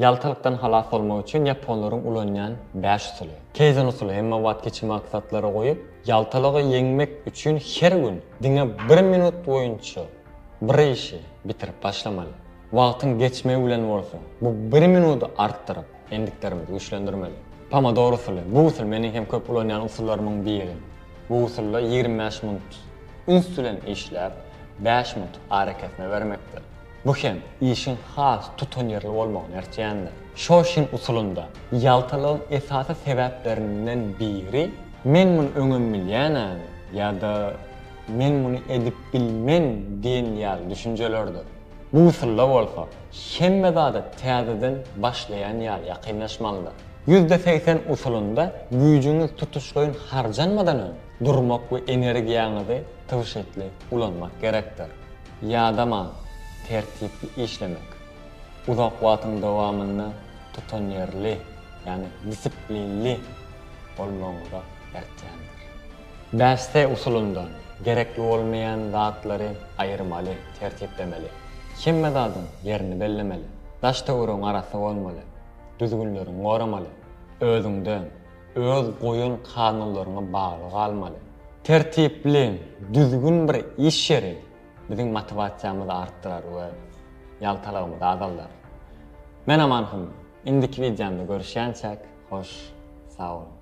Ýaltalykdan halas bolmak üçin ýaponlaryň ulanýan bäş usuly. Keizen usuly, hemme wagt kiçi maksatlary goýup, ýaltalygy ýeňmek üçin her gün diňe bir minut boýunça bir işi bitirip başlamaly. Wagtyň geçmegi bilen bolsa, bu bir minudy artdyryp, endiklerimizi güýçlendirmeli. Pomodoro usuly, bu usul meniň hem köp ulanýan usullarymyň biri. Bu usulda ýigrimi bäş minut üns bilen işläp, bäş minut arakesme bermekdir. Bu hem işiň has tutanýerli bolmagyny örtýändir. Şoşin usulynda ýaltalygyň esasy sebäplerinden biri Men muny öňem bilýän-ä-ä ýa-da Men muny edip bilmen diýen ýaly düşünjelerdir. Bu usulda bolsa hemme zada täzeden başlaýan ýaly ýakynlaşmalydyr. Ýüzde segsen usulynda güýjüňiz tutuşlaýyn harjanmadan öň durmak we energiýaňyzy tygşytly ulanmak gerekdir. Ýadamaň, tertipli işlemek, uzak wagtyň dowamynda tutanýerli, ýagny disiplinli bolmagyňyza eltýändir. Bäş S usulyndan, gerekli bolmaýan zatlary aýyrmaly, tertiplemeli. Hemme zadyň ýerini bellemeli. Daş-töweregiň arasy bolmaly. Düzgünleriňi goramaly. Özüňden, Öz goýan kanunlaryňa bagly galmaly. Tertipli, düzgün bir iş ýeri biziň motiwasiýamyzy artdyrar we ýaltalygymyzy azaldar. Men Aman Hym, indiki wideomda görüşýänçäk, hoş sag boluň.